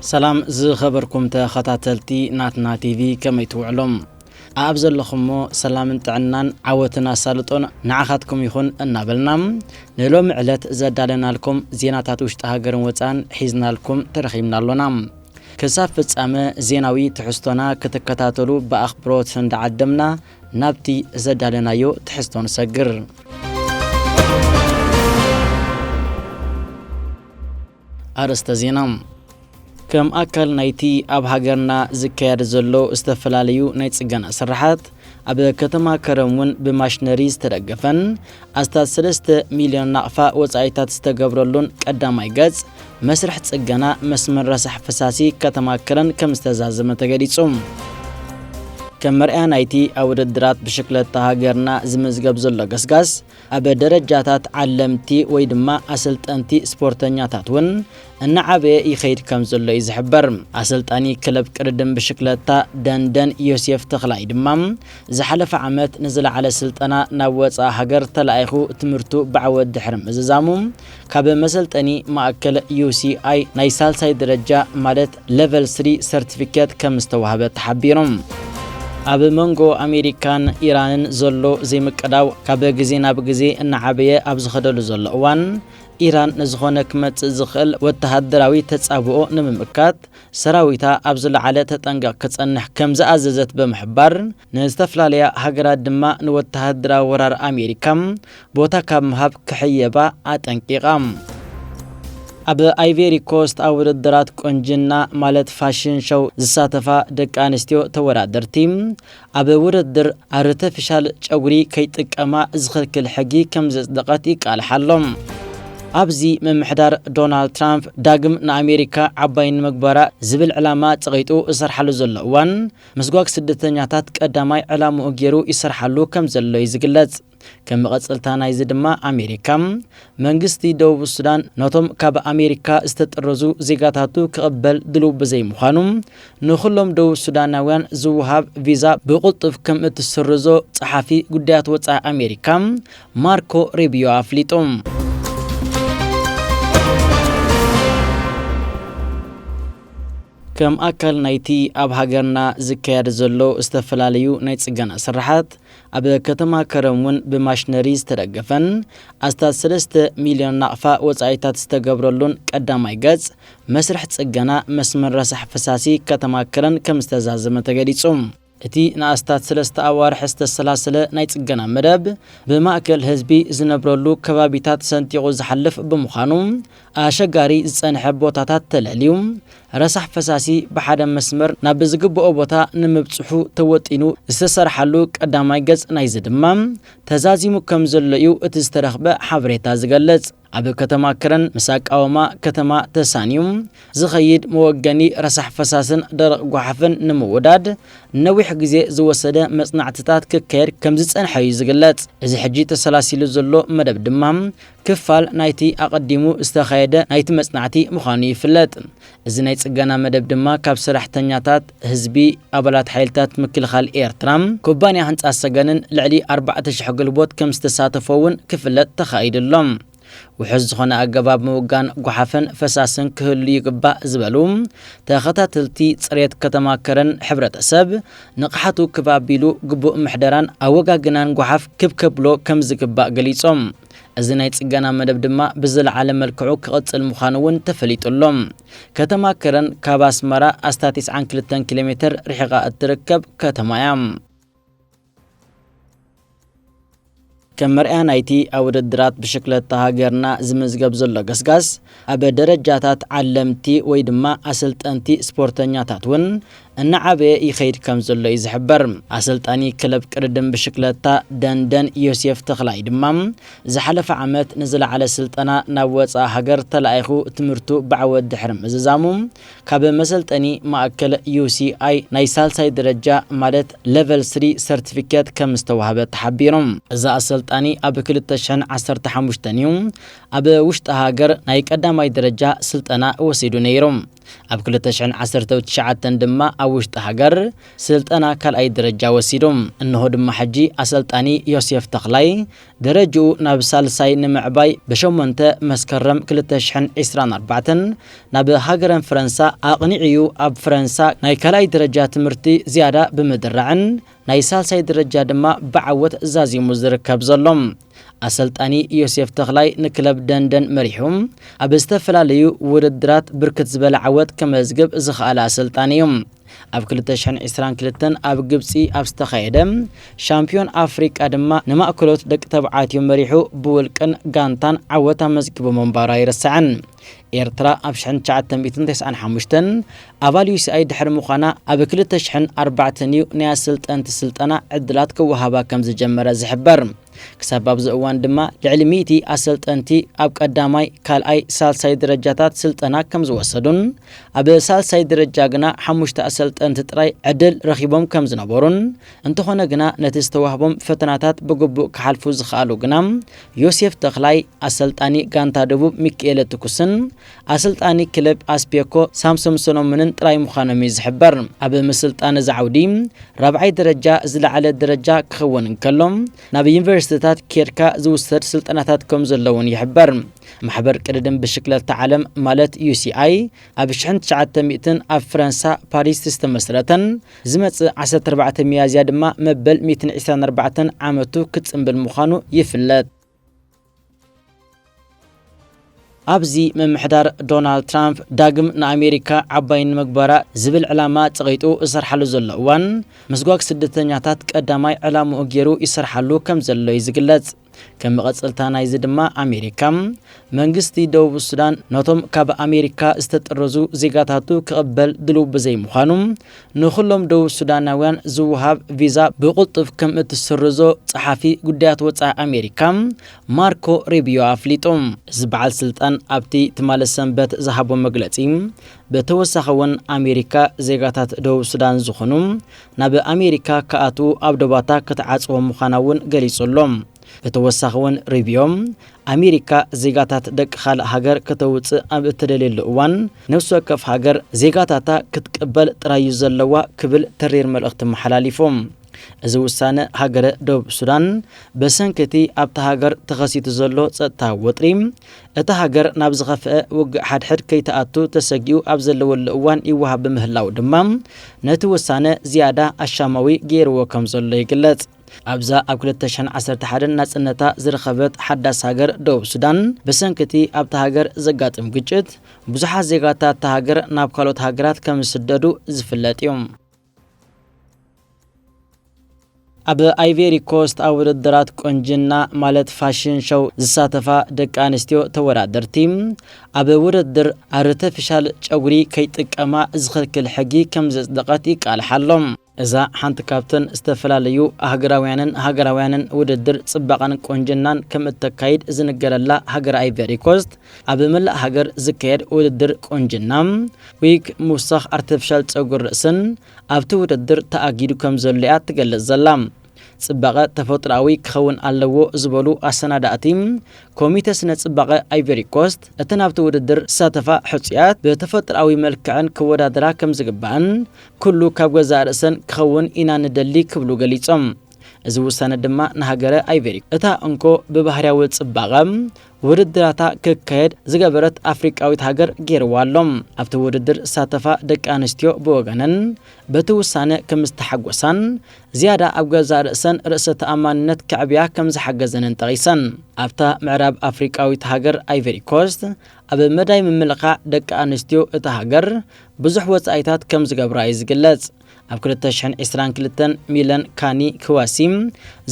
ሰላም ዝኸበርኩም ተኸታተልቲ ናትና ቲቪ ከመይ ትውዕሎም ኣብ ዘለኹምሞ ሰላምን ጥዕናን ዓወትን ኣሳልጦን ንዓኻትኩም ይኹን እናበልና ንሎሚ ዕለት ዘዳለናልኩም ዜናታት ውሽጢ ሃገርን ወፃን ሒዝናልኩም ተረኺብና ኣሎና ክሳብ ፍጻመ ዜናዊ ትሕዝቶና ክትከታተሉ ብኣኽብሮት እንዳዓደምና ናብቲ ዘዳለናዮ ትሕዝቶ ንሰግር። ኣርእስተ ዜና ከም ኣካል ናይቲ ኣብ ሃገርና ዝካየድ ዘሎ ዝተፈላለዩ ናይ ጽገና ስራሓት ኣብ ከተማ ከረን እውን ብማሽነሪ ዝተደገፈን ኣስታት ሰለስተ ሚልዮን ናቕፋ ወጻኢታት ዝተገብረሉን ቀዳማይ ገጽ፣ መስርሕ ጽገና መስመር ረሳሕ ፈሳሲ ከተማ ከረን ከምዝተዛዘመ ተገሊጹ። ከም መርኣያ ናይቲ ኣብ ውድድራት ብሽክለታ ሃገርና ዝምዝገብ ዘሎ ገስጋስ ኣብ ደረጃታት ዓለምቲ ወይ ድማ ኣሰልጠንቲ ስፖርተኛታት እውን እናዓበየ ይኸይድ ከም ዘሎ እዩ ዝሕበር። ኣሰልጣኒ ክለብ ቅድድም ብሽክለታ ደንደን ዮሴፍ ተኽላይ ድማ ዝሓለፈ ዓመት ንዝለዓለ ስልጠና ናብ ወጻኢ ሃገር ተላኢኹ ትምህርቱ ብዓወት ድሕሪ ምዝዛሙ፣ ካብ መሰልጠኒ ማእከል UCI ናይ ሳልሳይ ደረጃ ማለት Level Three ሰርቲፊኬት ከም ዝተዋህበ ተሓቢሩ። ኣብ መንጎ ኣሜሪካን ኢራንን ዘሎ ዘይምቅዳው ካብ ግዜ ናብ ግዜ እናዓበየ ኣብ ዝኸደሉ ዘሎ እዋን፣ ኢራን ንዝኾነ ክመጽእ ዝኽእል ወተሃደራዊ ተጻብኦ ንምምካት ሰራዊታ ኣብ ዝለዓለ ተጠንቀቕ ክጸንሕ ከም ዝኣዘዘት ብምሕባር፣ ንዝተፈላለያ ሃገራት ድማ ንወተሃደራዊ ወራር ኣሜሪካ ቦታ ካብ ምሃብ ክሕየባ ኣጠንቂቓ። ኣብ ኣይቬሪ ኮስት ኣብ ውድድራት ቁንጅና ማለት ፋሽን ሸው ዝሳተፋ ደቂ ኣንስትዮ ተወዳደርቲ፣ ኣብ ውድድር ኣርተፊሻል ጨጉሪ ከይጥቀማ ዝኽልክል ሕጊ ከምዘጽደቐት ይቃልሕ ኣሎ። ኣብዚ ምምሕዳር ዶናልድ ትራምፕ ዳግም ንኣሜሪካ ዓባይ ንምግባራ ዝብል ዕላማ ጸቒጡ ዝሰርሓሉ ዘሎ እዋን፣ ምስጓግ ስደተኛታት ቀዳማይ ዕላምኡ ገይሩ ይሰርሓሉ ከምዘሎ'ዩ ዝግለጽ። ከም መቐጸልታ ናይዚ ድማ ኣሜሪካ፣ መንግስቲ ደቡብ ሱዳን ነቶም ካብ ኣሜሪካ ዝተጠረዙ ዜጋታቱ ክቕበል ድሉው ብዘይምዃኑ፣ ንኹሎም ደቡብ ሱዳናውያን ዝወሃብ ቪዛ ብቕልጡፍ ከም እትስርዞ ጸሓፊ ጉዳያት ወጻኢ ኣሜሪካ ማርኮ ሪብዮ ኣፍሊጡ። ከም ኣካል ናይቲ ኣብ ሃገርና ዝካየድ ዘሎ ዝተፈላለዩ ናይ ጽገና ስርሓት፣ ኣብ ከተማ ከረን እውን ብማሽነሪ ዝተደገፈን ኣስታት ሰለስተ ሚልዮን ናቕፋ ወፃኢታት ዝተገብረሉን ቀዳማይ ገፅ መስርሕ ፅገና መስመር ረሳሕ ፈሳሲ ከተማ ከረን ከምዝተዛዘመ ተገሊፁ። እቲ ንኣስታት ሰለስተ ኣዋርሕ ዝተሰላሰለ ናይ ፅገና መደብ ብማእከል ህዝቢ ዝነብረሉ ከባቢታት ሰንጢቑ ዝሓልፍ ብምዃኑ ኣሸጋሪ ዝፀንሐ ቦታታት ተለልዩ ረሳሕ ፈሳሲ ብሓደ መስመር ናብ ብዝግበኦ ቦታ ንምብጽሑ ተወጢኑ ዝተሰርሓሉ ቀዳማይ ገጽ ናይዚ ድማ ተዛዚሙ ከም ዘሎ'ዩ እቲ ዝተረኽበ ሓበሬታ ዝገልጽ። ኣብ ከተማ ከረን ምስ ኣቃውማ ከተማ ተሳንዩ ዝኸይድ መወገኒ ረሳሕ ፈሳስን ደረቕ ጓሓፍን ንምውዳድ ነዊሕ ግዜ ዝወሰደ መጽናዕትታት ክካየድ ከም ዝጸንሐ'ዩ ዝግለጽ። እዚ ሕጂ ተሰላሲሉ ዘሎ መደብ ድማ ክፋል ናይቲ ኣቐዲሙ ዝተኻየደ ናይቲ መጽናዕቲ ምዃኑ ይፍለጥ። እዚ ናይ ጽገና መደብ ድማ ካብ ሰራሕተኛታት፣ ህዝቢ፣ ኣባላት ሓይልታት ምክልኻል ኤርትራ፣ ኩባንያ ህንጻ ሰገንን ልዕሊ ኣርባዕተ ሽሕ ግልቦት ከም ዝተሳተፎ'ውን ክፍለጥ ተኻኢሉ ኣሎ። ውሑስ ዝኾነ ኣገባብ ምውጋን ጎሓፍን ፈሳስን ክህሉ ይግባእ ዝበሉ ተኸታተልቲ ጽሬት ከተማ ከረን ሕብረተሰብ ንቕሓቱ ክብ ኣቢሉ ግቡእ ምሕደራን ኣወጋግናን ጎሓፍ ክብ ከብሎ ከም ዝግባእ ገሊጾም። እዚ ናይ ጽገና መደብ ድማ ብዝለዓለ መልክዑ ክቕጽል ምዃኑ እውን ተፈሊጡ ኣሎ። ከተማ ከረን ካብ ኣስመራ ኣስታት ትስዓን ክልተን ኪሎ ሜተር ርሒቓ እትርከብ ከተማ እያ። ከም መርኣያ ናይቲ ኣብ ውድድራት ብሽክለታ ሃገርና ዝምዝገብ ዘሎ ገስጋስ፣ ኣብ ደረጃታት ዓለምቲ ወይ ድማ ኣሰልጠንቲ ስፖርተኛታት እውን እናዓበየ ይኸይድ ከምዘሎ እዩ ዝሕበር። ኣሰልጣኒ ክለብ ቅድድም ብሽክለታ ደንደን ዮሴፍ ተኽላይ ድማ፣ ዝሓለፈ ዓመት ንዝለዓለ ስልጠና ናብ ወጻኢ ሃገር ተላኢኹ ትምህርቱ ብዓወት ድሕሪ ምዝዛሙ፣ ካብ መሰልጠኒ ማእከል UCI ናይ ሳልሳይ ደረጃ ማለት Level Three ሰርቲፊኬት ከምዝተዋህበ ተሓቢሩ። እዚ ኣሰልጣኒ ኣብ ክልተ ሽሕን ዓሰርተ ሓሙሽተን እዩ ኣብ ውሽጢ ሃገር ናይ ቀዳማይ ደረጃ ስልጠና ወሲዱ ነይሩ። ኣብ ክልተ ሽሕን ዓሰርተው ትሽዓተን ድማ ኣብ ውሽጢ ሃገር ስልጠና ካልኣይ ደረጃ ወሲዱ። እንሆ ድማ ሕጂ ኣሰልጣኒ ዮሴፍ ተኽላይ ደረጅኡ ናብ ሳልሳይ ንምዕባይ ብ ሸሞንተ መስከረም ክልተ ሽሕን ዒስራን ኣርባዕተን ናብ ሃገረን ፈረንሳ ኣቕኒዑ እዩ። ኣብ ፈረንሳ ናይ ካልኣይ ደረጃ ትምህርቲ ዝያዳ ብምድራዕን ናይ ሳልሳይ ደረጃ ድማ ብዓወት ዛዚሙ ዝርከብ ዘሎ። ኣሰልጣኒ ዮሴፍ ተኽላይ ንክለብ ደንደን መሪሑ ኣብ ዝተፈላለዩ ውድድራት ብርክት ዝበለ ዓወት ከመዝግብ ዝኸኣለ ኣሰልጣኒ እዩ። ኣብ ክልተ ሽሕን ዕስራን ክልተን ኣብ ግብጺ ኣብ ዝተኻየደ ሻምፕዮን ኣፍሪቃ ድማ ንማእከሎት ደቂ ተባዕትዮ መሪሑ ብውልቅን ጋንታን ዓወት ኣመዝጊቡ ምንባሩ ኣይርሳዕን። ኤርትራ ኣብ ሽሕን ትሽዓተ ሚእትን ተስዓን ሓሙሽተን ኣባል ዩሲኣይ ድሕሪ ምዃና ኣብ ክልተ ሽሕን ኣርባዕተን እዩ ናይ ኣሰልጠንቲ ስልጠና ዕድላት ክወሃባ ከም ዝጀመረ ዝሕበር። ክሳብ ኣብዚ እዋን ድማ ልዕሊ ሚእቲ ኣሰልጠንቲ ኣብ ቀዳማይ፣ ካልኣይ፣ ሳልሳይ ደረጃታት ስልጠና ከም ዝወሰዱን ኣብ ሳልሳይ ደረጃ ግና ሓሙሽተ ኣሰልጠንቲ ጥራይ ዕድል ረኺቦም ከም ዝነበሩን እንተኾነ ግና ነቲ ዝተዋህቦም ፈተናታት ብግቡእ ክሓልፉ ዝኸኣሉ ግና ዮሴፍ ተኽላይ፣ ኣሰልጣኒ ጋንታ ደቡብ ሚኪኤለ ትኩስን ኣሰልጣኒ ክለብ ኣስፔኮ ሳምሶም ሰሎሞንን ጥራይ ምዃኖም እዩ ዝሕበር። ኣብ ምስልጣን እዚ ዓውዲ ራብዓይ ደረጃ ዝለዓለ ደረጃ ክኸውን እንከሎ ናብ ዩኒቨርሲቲታት ኬድካ ዝውሰድ ስልጠናታት ከምዘሎ እውን ይሕበር። ማሕበር ቅድድም ብሽክለታ ዓለም ማለት ዩሲኣይ ኣብ ሽሕን ትሽዓተ ሚእትን ኣብ ፈረንሳ ፓሪስ ዝተመስረተን ዝመጽእ ዓሰርተ ኣርባዕተ ሚያዝያ ድማ መበል ሚእትን ዒስራን ኣርባዕተን ዓመቱ ክጽምብል ምዃኑ ይፍለጥ። ኣብዚ ምምሕዳር ዶናልድ ትራምፕ ዳግም ንኣሜሪካ ዓባይ ንምግባራ ዝብል ዕላማ ጸቒጡ ዝሰርሓሉ ዘሎ እዋን፣ ምስጓግ ስደተኛታት ቀዳማይ ዕላምኡ ገይሩ ይሰርሓሉ ከም ዘሎ'ዩ ዝግለጽ። ከም መቐጸልታ ናይዚ ድማ ኣሜሪካ፣ መንግስቲ ደቡብ ሱዳን ነቶም ካብ ኣሜሪካ ዝተጠረዙ ዜጋታቱ ክቕበል ድሉው ብዘይምዃኑ፣ ንኹሎም ደቡብ ሱዳናውያን ዝወሃብ ቪዛ ብቕልጡፍ ከም እትስርዞ ጸሓፊ ጉዳያት ወጻኢ ኣሜሪካ ማርኮ ሪብዮ ኣፍሊጡ። እዚ በዓል ስልጣን ኣብቲ ትማሊ ሰንበት ዝሃቦ መግለጺ ብተወሳኺ'ውን ኣሜሪካ ዜጋታት ደቡብ ሱዳን ዝኾኑ ናብ ኣሜሪካ ክኣትዉ ኣብ ዶባታ ክትዓጽዎም ምዃና እውን ገሊጹ ኣሎ። ብተወሳኺ እውን ሩቢዮ፣ ኣሜሪካ ዜጋታት ደቂ ካልእ ሃገር ከተውጽእ ኣብ እትደልየሉ እዋን፣ ነፍሲ ወከፍ ሃገር ዜጋታታ ክትቅበል ጥራይ እዩ ዘለዋ ክብል ተሪር መልእኽቲ ኣመሓላሊፉ። እዚ ውሳነ ሃገረ ደቡብ ሱዳን፣ ብሰንኪ እቲ ኣብታ ሃገር ተኸሲቱ ዘሎ ጸጥታዊ ወጥሪ፣ እታ ሃገር ናብ ዝኸፍአ ውግእ ሓድሕድ ከይትኣቱ ተሰጊኡ ኣብ ዘለወሉ እዋን ይወሃብ ብምህላዉ ድማ ነቲ ውሳነ ዝያዳ ኣሻማዊ ገይርዎ ከም ዘሎ ይግለጽ። ኣብዛ ኣብ ክልተ ሽሕን ዓሰርተ ሓደን ናጽነታ ዝረኸበት ሓዳስ ሃገር ደቡብ ሱዳን፣ ብሰንኪ'ቲ ኣብታ ሃገር ዘጋጥም ግጭት ብዙሓት ዜጋታት'ታ ሃገር ናብ ካልኦት ሃገራት ከም ዝስደዱ ዝፍለጥ'ዩ። ኣብ ኣይቬሪኮስት ኣብ ውድድራት ቆንጅና ማለት ፋሽን ሾው ዝሳተፋ ደቂ ኣንስትዮ ተወዳደርቲ ኣብ ውድድር ኣርተፊሻል ጨጉሪ ከይጥቀማ ዝኽልክል ሕጊ ከም ዘጽደቐት ይቃልሓ ኣሎ። እዛ ሓንቲ ካብተን ዝተፈላለዩ ኣህግራውያንን ሃገራውያንን ውድድር ጽባቐን ቆንጅናን ከም እተካይድ ዝንገረላ ሃገረ ኣይቬሪኮስት፣ ኣብ መላእ ሃገር ዝካየድ ውድድር ቁንጅና፣ ዊግ፣ ምውሳኽ ኣርተፊሻል ጸጉሪ ርእስን ኣብቲ ውድድር ተኣጊዱ ከም ዘሎ'ያ ትገልጽ ዘላ። ጽባቐ ተፈጥሮኣዊ ክኸውን ኣለዎ ዝበሉ ኣሰናዳእቲ ኮሚተ ስነ ጽባቐ ኣይቨሪኮስት፣ እተን ኣብቲ ውድድር ዝሳተፋ ሕጹያት ብተፈጥሮኣዊ መልክዐን ክወዳደራ ከም ዝግባእን ኩሉ ካብ ገዛእ ርእሰን ክኸውን ኢና ንደሊ ክብሉ ገሊጾም። እዚ ውሳነ ድማ ንሃገረ ኣይቨሪኮስት እታ እንኮ ብባህርያዊ ጽባቐ ውድድራታ ክካየድ ዝገበረት ኣፍሪቃዊት ሃገር ገይርዋ ኣሎ። ኣብቲ ውድድር ዝሳተፋ ደቂ ኣንስትዮ ብወገነን በቲ ውሳነ ከም ዝተሓጎሳን ዝያዳ ኣብ ገዛእ ርእሰን ርእሰ ተኣማንነት ከዕብያ ከም ዝሓገዘንን ጠቒሰን። ኣብታ ምዕራብ ኣፍሪቃዊት ሃገር ኣይቨሪኮስት ኣብ መዳይ ምምልኻዕ ደቂ ኣንስትዮ እታ ሃገር ብዙሕ ወጻኢታት ከም ዝገብራ እዩ ዝግለጽ። ኣብ ክልተ ሽሕን ዕስራን ክልተን ሚለን ካኒ ክዋሲ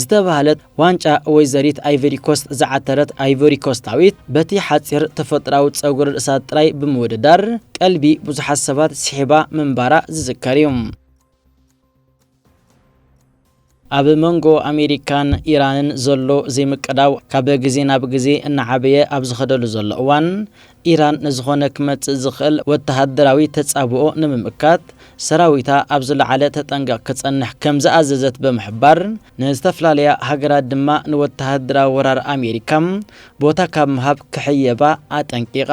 ዝተባህለት ዋንጫ ወይዘሪት ኣይቨሪኮስት ዝዓተረት ኣይቮሪኮስታዊት በቲ ሓጺር ተፈጥራዊ ጸጉሪ ርእሳ ጥራይ ብምውድዳር ቀልቢ ብዙሓት ሰባት ስሒባ ምንባራ ዝዝከር እዩ። ኣብ መንጎ ኣሜሪካን ኢራንን ዘሎ ዘይምቅዳው ካብ ግዜ ናብ ግዜ እናዓበየ ኣብ ዝኸደሉ ዘሎ እዋን፣ ኢራን ንዝኾነ ክመጽእ ዝኽእል ወተሃደራዊ ተጻብኦ ንምምካት ሰራዊታ ኣብ ዝለዓለ ተጠንቀቕ ክጸንሕ ከም ዝኣዘዘት ብምሕባር፣ ንዝተፈላለያ ሃገራት ድማ ንወተሃደራዊ ወራር ኣሜሪካ ቦታ ካብ ምሃብ ክሕየባ ኣጠንቂቓ።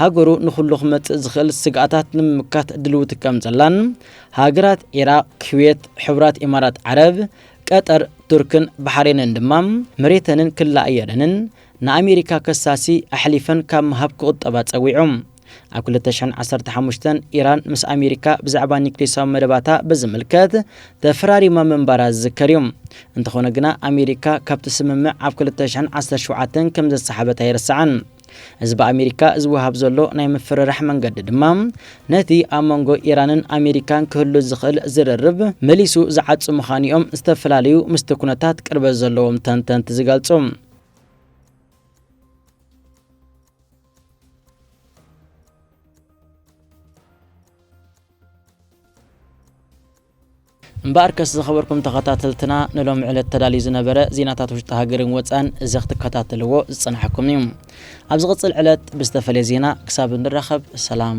ሃገሩ ንኹሉ ክመጽእ ዝኽእል ስግኣታት ንምምካት ድልውቲ ከም ዘላን ሃገራት ዒራቕ፣ ክዌት፣ ሕቡራት ኢማራት ዓረብ፣ ቀጠር፣ ቱርክን ባሕሬንን ድማ መሬተንን ክላ ኣየረንን ንኣሜሪካ ከሳሲ ኣሕሊፈን ካብ ምሃብ ክቑጠባ ጸዊዑ። ኣብ ክልተ ሽሕን ዓሰርተ ሓሙሽተን ኢራን ምስ ኣሜሪካ ብዛዕባ ኒክሌሳዊ መደባታ ብዝምልከት ተፈራሪማ ምንባራ ዝዝከር እዩ። እንተኾነ ግና ኣሜሪካ ካብቲ ስምምዕ ኣብ ክልተ ሽሕን ዓሰርተ ሸውዓተን ከም ዘሰሓበት ኣይርሳዕን። እዚ ብኣሜሪካ ዝወሃብ ዘሎ ናይ ምፍርራሕ መንገዲ ድማ ነቲ ኣብ መንጎ ኢራንን ኣሜሪካን ክህሉ ዝኽእል ዝርርብ መሊሱ ዝዓጹ ምዃኑ'ዮም ዝተፈላለዩ ምስቲ ኩነታት ቅርበት ዘለዎም ተንተንቲ ዝገልጹ። እምበኣርከስ ዝኸበርኩም ተኸታተልትና ንሎሚ ዕለት ተዳልዩ ዝነበረ ዜናታት ውሽጢ ሃገርን ወጻእን እዚ ክትከታተልዎ ዝጸናሕኩም እዩ። ኣብ ዝቕጽል ዕለት ብዝተፈልየ ዜና ክሳብ እንራኸብ ሰላም።